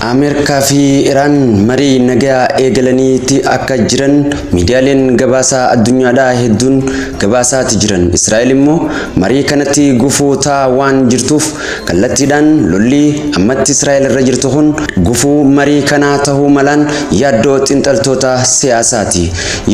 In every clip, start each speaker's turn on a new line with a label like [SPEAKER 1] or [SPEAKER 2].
[SPEAKER 1] ameerikaa fi iraan marii nagaa eegalaniiti akka jiran miidiyaaleen gabaasaa addunyaadhaa hedduun gabaasaati jiran israa'el immoo marii kanatti gufuu ta'aa waan jirtuuf Kallattiidhaan lolli ammatti Israa'el irra jirtu kun gufuu marii kanaa tahuu malaan yaaddoo xinxaltoota siyaasaati.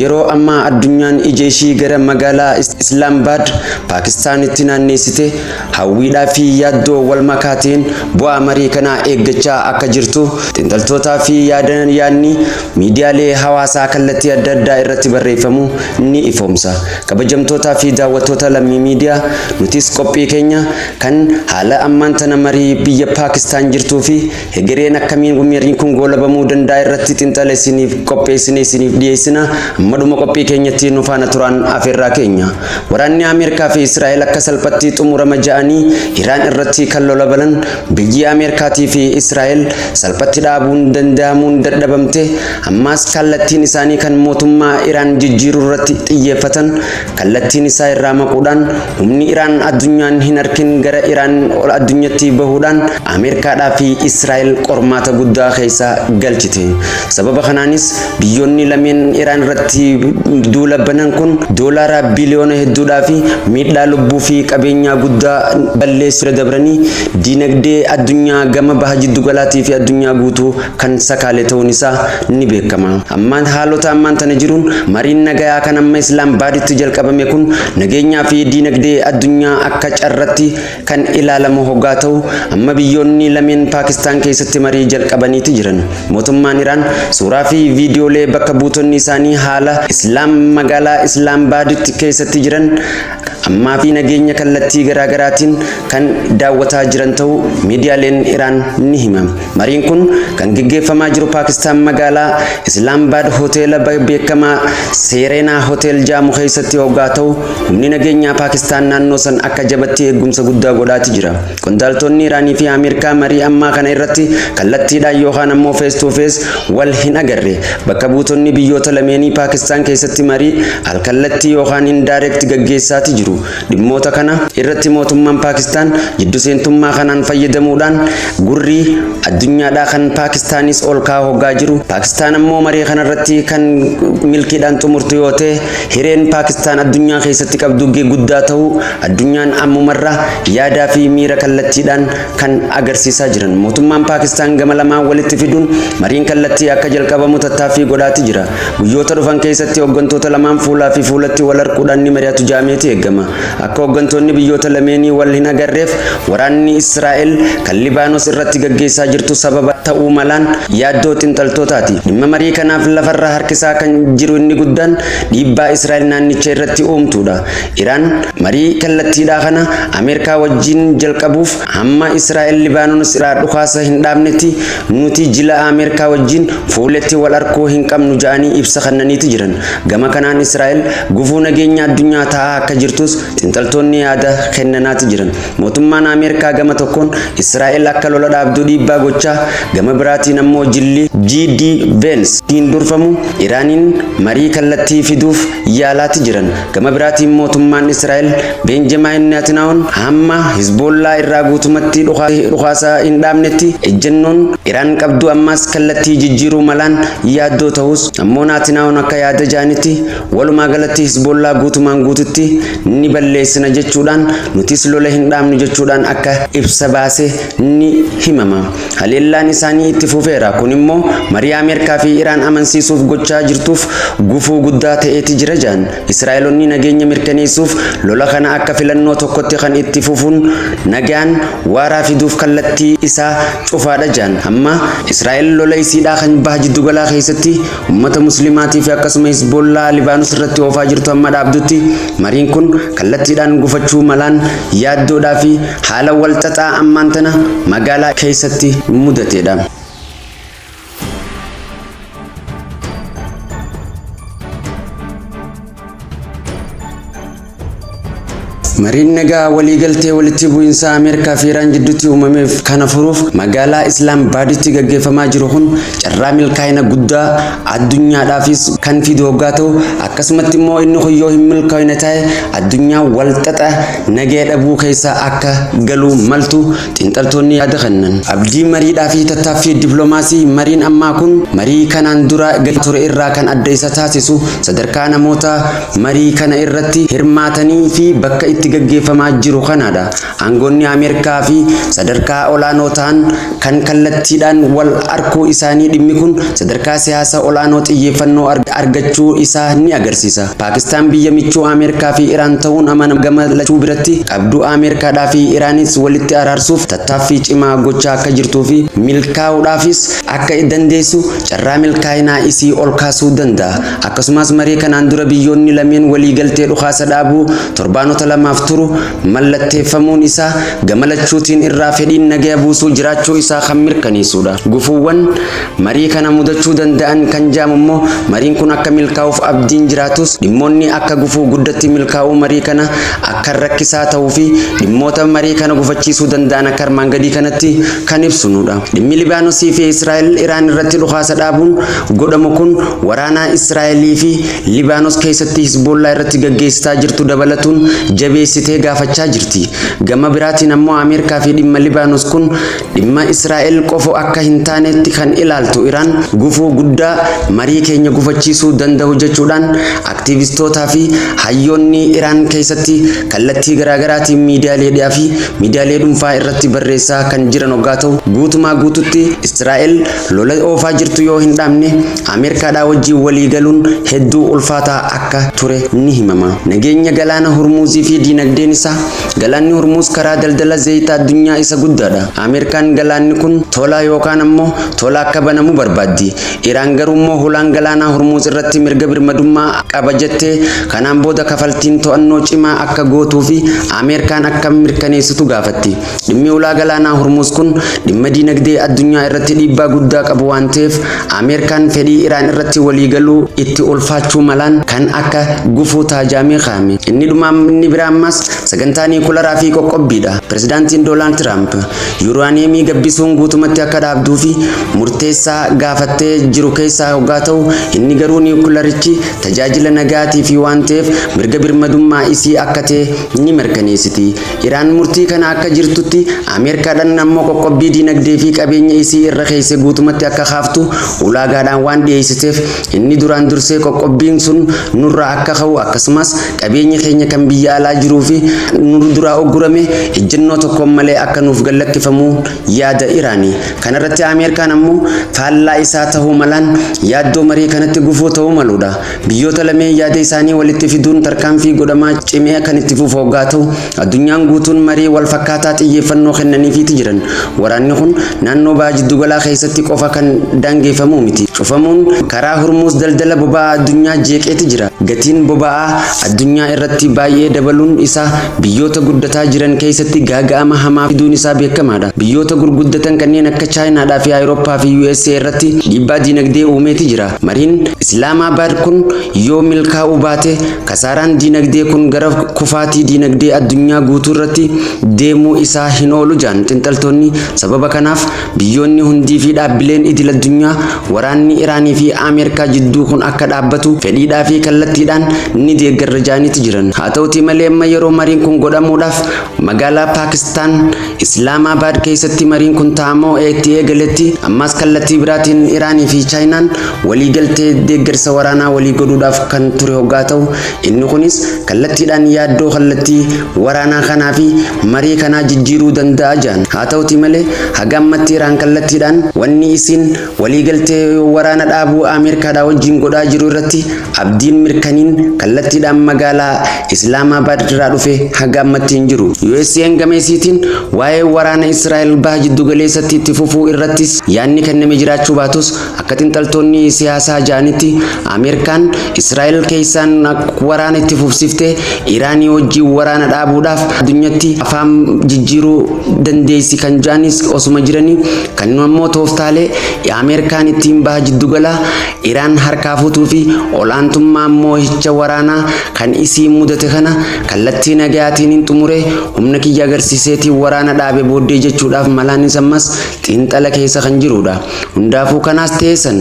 [SPEAKER 1] Yeroo ammaa addunyaan ija ishii gara magaalaa Islaambaad, Paakistaanitti naanneessite hawwiidhaa fi yaaddoo wal makaa ta'een bu'aa marii kanaa eeggachaa akka jirtu xinxaltootaa fi yaadni miidiyaalee hawaasaa kallattii adda addaa irratti barreeffamu ni ifoomsa. Kabajamtootaa fi daawwattoota Lammii Miidiyaa, nutis qophii keenya Kan haala ammaan tana marii biyya Paakistaan jirtuu fi hegereen akkamiin wmariin kun goolabamuu danda'a irratti xinxala isiniif qopheessine isiniif dhiyeessina, amma dhuma qophii keenyatti nu faana turaan afeerraa keenya. Waraanni Ameerkaa fi Israa'el akka salphatti xumurama ja'anii Iraan irratti kan lolabalan biyyi Ameerkaatii fi Israa'el salphatti dhaabuun danda'amuun dadhabamte ammaas kaallattiin isaanii kan mootummaa Iraan jijjiiruu irratti xiyyeeffatan kallattiin isaa irraa maquudhaan humni Iraan addunyaan hin arkin gara Iraan ol addunyatti bahuudhaan Ameerikaadhaa fi Israa'el qormaata guddaa keessa galchite. Sababa kanaanis biyyoonni lameen Iraan irratti duula banan kun doolaara biliyoona hedduudhaa fi miidhaa lubbuu fi qabeenyaa guddaa balleessuu irra dabranii diinagdee addunyaa gama baha jiddu galaatii fi addunyaa guutuu kan sakaale ta'uun isaa ni beekama. Ammaan haalota ammaan tana jiruun mariin nagayaa kan amma Islaambaaditti jalqabame kun nageenyaa fi diinagdee addunyaa akka carratti kan ilaalamu hoggaa ta'u amma biyyoonni lameen Paakistaan keessatti marii jalqabaniiti jiran. Mootummaan Iraan suuraa fi viidiyoolee bakka buutonni isaanii haala Islaam magaalaa Islaambaaditti keessatti jiran ammaa fi nageenya kallattii garaa garaatiin kan daawwataa jiran ta'uu miidiyaaleen Iraan ni hima. Mariin kun kan geggeeffamaa jiru Paakistaan magaalaa Islaambaad hoteela beekamaa Seereenaa Hotel jaamu keessatti hoggaa ta'u, humni nageenyaa Paakistaan naannoo san akka jabatti eeggumsa guddaa godhaati jira. Qondaaltoonni Iraanii fi Ameerikaa marii ammaa kana irratti kallattiidhaan yookaan ammoo face to face wal hin agarre. Bakka buutonni biyyoota lameenii Paakistaan keessatti marii al-kallattii yookaan indirect gaggeessaati jiru. Dhimmoota kana irratti mootummaan Paakistaan jiddu seentummaa kanaan fayyadamuudhaan gurri addunyaadhaa kan Paakistaanis ol ka'aa hoggaa jiru, Paakistaan ammoo maree kana irratti kan milkiidhaan xumurtu yoo ta'e hireen Paakistaan addunyaa keessatti qabdu guddaa ta'uu Addunyaan ammumarraa yaadaa fi miira kallattiidhaan kan agarsiisaa jiran mootummaan Paakistaan gama lamaan walitti fiduun mariin kallattii akka jalqabamu tattaaffii godhaati jira. Guyyoota dhufan keessatti hoggantoota lamaan fuulaa fi fuulatti wal arquudhaan ni mari'atu ja'ameeti eegama. Akka hoggantoonni biyyoota lameenii wal hin agarreef waraanni Israa'el kan Libaanos irratti gaggeessaa jirtu sababa ta'uu malaan yaaddoo xinxaltootaati. Dhimma marii kanaaf lafarra harkisaa kan jiru inni guddaan dhiibbaa Israa'el naannicha irratti uumtuudha. Iraan marii kallattiidhaa kana Ameerikaa wajjiin jalqabuuf hamma Israa'el Libaanonos iraa dhukaasa hin dhaabnetti nuuti jila Ameerikaa wajjiin fuuletti wal arkuu hin qabnu ja'anii ibsa kannaniiti jiran. Gama kanaan Israa'el gufuu nageenya addunyaa ta'aa akka jirtuus xinxaltoonni yaada kennanaati jiran. Mootummaan Ameerikaa gama tokkoon Israa'el akka lola dhaabdu dhiibbaa gochaa gama biraatiin ammoo jilli GD Vance tiin durfamu Iraaniin marii kallattii fiduuf yaalaati jiran. Gama biraatiin mootummaan Israa'el Beenjamaayin Neatinaa'oon hamma Hizboollaa irraa guutumatti dhukaasa hin dhaabnetti ejjennoon Iraan qabdu ammaas kallattii jijjiiruu malaan yaaddoo ta'us ammoo Naatinaa'oon akka yaada jaanitti walumaa galatti Hizboollaa guutumaan guututti ni balleessina jechuudhaan nutis lola hin dhaabnu jechuudhaan akka ibsa baase ni himama. Haleellaan isaanii itti fufeera, kun immoo marii Ameerkaa fi Iraan amansiisuuf gochaa jirtuuf gufuu guddaa ta'eeti jira jedhan. Israa'elonni nageenya mirkaneessuuf lola kana akka filannoo tokkotti kan itti fufuun nagaan waaraa fiduuf kallattii isaa cufaadha jedhan. Amma Israa'el lola isiidhaa kan Baha Jiddugalaa keessatti Ummata Muslimaatii fi akkasuma Hizbollaa Libaanus irratti oofaa jirtu amma dhaabdutti mariin kun kallattiidhaan gufachuu malaan yaaddoodhaa fi haala walxaxaa ammaan tana magaalaa keessatti mudateedha. Mariin nagaa waliigaltee walitti bu'iinsa Ameerikaa fi Iraan gidduutti uumameef kana furuuf magaalaa Islaam Baaditti gaggeeffamaa jiru kun carraa milkaa'ina guddaa addunyaadhaafis kan fidu hoggaa ta'u akkasumatti immoo inni kun yoo hin milkaa'ina ta'e addunyaa walxaxa nagaya dhabuu keessa akka galuu maltu Xiinxaltoonni yaada kannan abdii mariidhaa fi tattaaffii diplomaasii mariin ammaa kun marii kanaan dura gaggeeffamaa ture irraa kan adda isa taasisu sadarkaa namoota marii kana irratti hirmaatanii fi bakka itti gaggeeffamaa jiru kanaadha. Aangoonni Ameerkaa fi sadarkaa olaanoo ta'an kan kallattiidhaan wal arkuu isaanii dhimmi kun sadarkaa siyaasa olaanoo xiyyeeffannoo argachuu isaa ni agarsiisa. Paakistaan biyya michuu Ameerkaa fi Iraan ta'uun amanama gama lachuu biratti. Abduu Ameerkaadhaa fi Iraanis walitti araarsuuf tattaaffii cimaa gochaa akka jirtuu fi milkaa'uudhaafis akka dandeessu carraa milkaa'inaa isii ol kaasuu danda'a. Akkasumas marii kanaan dura biyyoonni lameen waliigaltee dhukaasa dhaabuu torbaanota lamaaf turu mallatteeffamuun isaa gama lachuutiin irraa fedhiin nagaya buusuu jiraachuu isaa kan mirkaneessuudha. Gufuuwwan Marii kana mudachuu danda'an kan ja'amu immoo mariin kun akka milkaa'uuf abdiin jiraatus dhimmoonni akka gufuu guddatti milkaa'uu marii kana akkan rakkisaa ta'uu fi dhimmoota marii kana gufachiisuu danda'an akka armaan gadii kanatti kan ibsunuudha. Dhimmi Libaanosii fi Israa'el Iraan irratti dhukaasa dhaabuun godhamu kun waraanaa Israa'elii fi Libaanos keessatti Hisboollaa irratti gaggeessitaa jirtu dabalatuun jabeessitee gaafachaa jirti. Gama biraatiin ammoo Ameerikaa fi dhimma Libaanos kun Dhimma Israa'el qofo akka hin taaneetti kan ilaaltu Iraan, gufuu guddaa marii keenya gufachiisuu danda'u jechuudhaan aktiivistootaa fi hayyoonni Iraan keessatti kallattii garaagaraatiin miidiyaaleedhaa fi miidiyaalee dhunfaa irratti barreessaa kan jiran oggaa ta'u, guutumaa guututti Israa'el lola oofaa jirtu yoo hin dhaabne Ameerkaadhaa wajjin walii galuun hedduu ulfaataa akka ture ni himama. Nageenya Galaana Hurmuuzii fi diinagdeen isaa. Galaanni Hormuuz karaa daldala zayita addunyaa isa guddaadha. Ameerikaan galaanni kun tola yookaan ammoo tola akka banamu barbaaddi. Iraan garuu immoo hulaan galaanaa Hormuuz irratti mirga birmadummaa qaba jettee kanaan booda kafaltiin to'annoo cimaa akka gootuu fi Ameerikaan akka mirkaneessitu gaafatti. Dhimmi ulaa galaanaa Hormuuz kun dhimma diinagdee addunyaa irratti dhiibbaa guddaa qabu waan ta'eef Ameerikaan fedhii Iraan irratti waliigaluu itti ulfaachuu malaan kan akka gufuu taajaamii kaa'ame. Inni dhumaa inni biraa ammaas sagantaa niikularaa fi qoqqobbiidha. Pirezidaantiin Doonaald Tiraamp yuuraaniyeemii gabbisuun guutumatti akka dhaabduu fi murteessaa gaafattee jiru keessaa hoggaa ta'u inni garuu niikularichi tajaajila nagaatii fi waan ta'eef mirga birmadummaa isii akka ta'e ni mirkaneessiti. Iraan murtii kana akka jirtutti Ameerkaadhan ammoo qoqqobbii diinagdee fi qabeenya isii irra keeyse guutumatti akka kaaftu ulaagaadhaan waan dhiyeeysiteef inni duraan dursee qoqqobbiin sun nurraa akka ka'u akkasumas qabeenyi keenya kan biyya alaa jiruu fi nu duraa uggurame ijjannoo tokkoon malee akka nuuf gad lakkifamu yaada Iraani. Kanarratti Ameerkaan ammoo faallaa isaa tahuu malaan yaaddoo marii kanatti gufuu ta'uu maluudha. Biyyoota lameen yaada isaanii walitti fiduun tarkaanfii godhamaa cimee kan itti fufu hoggaa ta'u, addunyaan guutuun marii wal fakkaataa xiyyeeffannoo kennaniifiiti jiran. Waraanni kun naannoo Baha Jiddugalaa keessatti qofa kan daangeeffamu miti. Cufamuun karaa Hurmuuz daldala boba'aa addunyaa jeeqeeti jira. Gatiin boba'aa addunyaa irratti baay'ee dabaluun isaa biyyoota guddataa jiran keessatti gaaga'ama hamaa fiduun isaa beekamaadha. Biyyoota gurguddatan kanneen akka Chaayinaadhaa fi Awurooppaa fi USA irratti dhiibbaa diinagdee uumeeti jira. Mariin Islaamaabaad kun yoo milkaa'uu baate kasaaraan diinagdee kun gara kufaatii diinagdee addunyaa guutuurratti deemuu isaa hin oolu jedhan xinxaltoonni. Sababa kanaaf biyyoonni hundiifi dhaabbileen idil-addunyaa waraanni Iraaniifi Ameerikaa jidduu kun akka dhaabbatu fedhiidhaafi kallattiidhaan ni deeggarra jedhaniiti jiran. Haa ta'uutii malee amma yeroo mariin kun godhamuudhaaf magaalaa Paakistaan Islaamaabaad keessatti mariin kun taa'amuu eetti eegaletti ammaas kallattii biraatiin Iraanii fi Chaayinaan walii galtee deeggarsa waraanaa walii godhuudhaaf kan ture hoggaa ta'u, inni kunis kallattiidhaan yaaddoo kallattii waraanaa kanaa fi marii kanaa jijjiiruu danda'a jedhan. Haa ta'utii malee haga ammatti Iraan kallattiidhaan wanni isiin Waliigaltee waraana dhaabuu Ameerikaadhaa wajjin godhaa jiru irratti Abdiin Mirkaniin kallattiidhaan magaalaa Islaamaabaad irraa dhufe haga ammatti hin jiru. USAn gama isiitiin waa'ee waraana Israa'el Baha Jiddugaleessatti itti fufuu irrattis yaadni kenname jiraachuu baatus akka xinxaltoonni siyaasaa ja'anitti Ameerikaan Israa'el keessaan waraana itti fufsiiftee Iraanii wajjin waraana dhaabuudhaaf addunyatti afaan jijjiiruu dandeessi kan ja'anis osuma jiranii Kan nu ammoo tooftaalee Ameerikaan ittiin Baha Jiddugalaa Iraan harkaa fuutuu fi ol'aantummaa moohicha waraanaa kan isiin mudate kana kallattii nagayaatiinin xumuree humna kiyya agarsiiseetiin waraana dhaabe booddee jechuudhaaf malaanis ammas xiinxala keessa kan jiruudha. Hundaafuu kanaas ta'ee san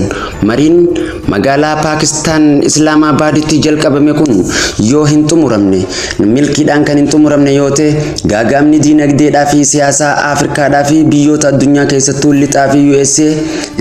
[SPEAKER 1] mariin Magaalaa Paakistaan Islaamaabaaditti jalqabame kun yoo hin xumuramne, milkiidhaan kan hin xumuramne yoo ta'e, gaaga'amni diinagdeedhaa fi siyaasaa Afrikaadhaa fi biyyoota addunyaa keessattuu Lixaa fi USA,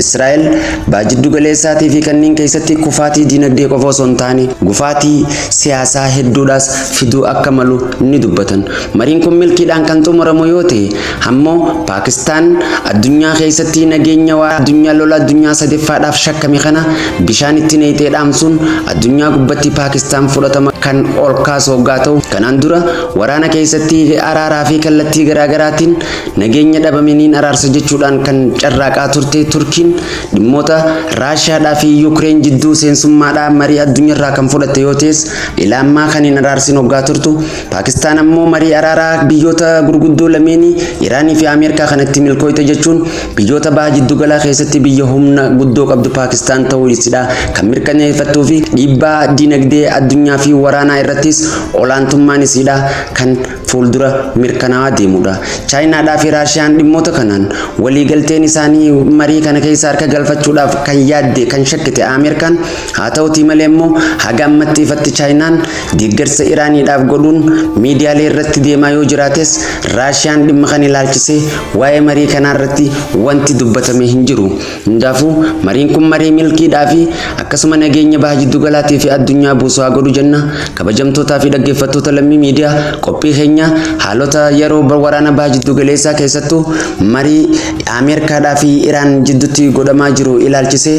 [SPEAKER 1] Israa'el, Baha Jiddu Galeessaatii fi kanneen keessatti kufaatii diinagdee qofa osoo hin taane, gufaatii siyaasaa hedduudhaas fiduu akka malu ni dubbatan. Mariin kun milkiidhaan kan xumuramu yoo ta'e, Ammo Paakistaan addunyaa keessatti nageenya waaraa addunyaa lola addunyaa sadeffaadhaaf shakkame kana bishaan itti nayxee dhaamsuun addunyaa gubbatti Paakistaan fudhatama kan ol kaasu hoggaa ta'u kanaan dura waraana keessatti araaraa fi kallattii garaagaraatiin nageenya dhabame niin araarsa jechuudhaan kan carraaqaa turte Turkiin dhimmoota Raashiyaadhaa fi Yuukireen jidduu seensummaadhaa marii addunyaarraa kan fudhatte yoo ta'es ilaammaa kan hin araarsin hoggaa turtu Paakistaan ammoo marii araaraa biyyoota gurguddoo lameenii Iraanii fi Ameerikaa kanatti milkooyte jechuun biyyoota baha jiddugalaa keessatti biyya humna guddoo qabdu Paakistaan ta'uu isidhaa kan mirkaneeffattuu fi dhiibbaa diinagdee addunyaa fi waraanaa irrattis olaantummaan isiidhaa kan fuuldura mirkanaawaa deemudha. Chaayinaadhaa fi Raashiyaan dhimmoota kanaan waliigalteen isaanii marii kana keessa harka galfachuudhaaf kan yaadde kan shakkite Ameerikaan haa ta'utii malee immoo haga ammatti ifatti Chaayinaan Deeggarsa Iraaniidhaaf godhuun miidiyaalee irratti deemaa yoo jiraates, Raashiyaan dhimma kana ilaalchisee waa'ee marii kanaa irratti wanti dubbatame hin jiru. Hundaafuu, mariin kun marii milkiidhaa fi akkasuma nageenya Baha Jiddugalaatii fi addunyaa buusu haa godhu jenna. Kabajamtootaa fi dhaggeeffattoota Lammii Miidiyaa, qophii keenya haalota yeroo waraana Baha Jiddugaleessaa keessattuu marii Ameerkaadhaa fi Iraan jidduutti godhamaa jiru ilaalchisee,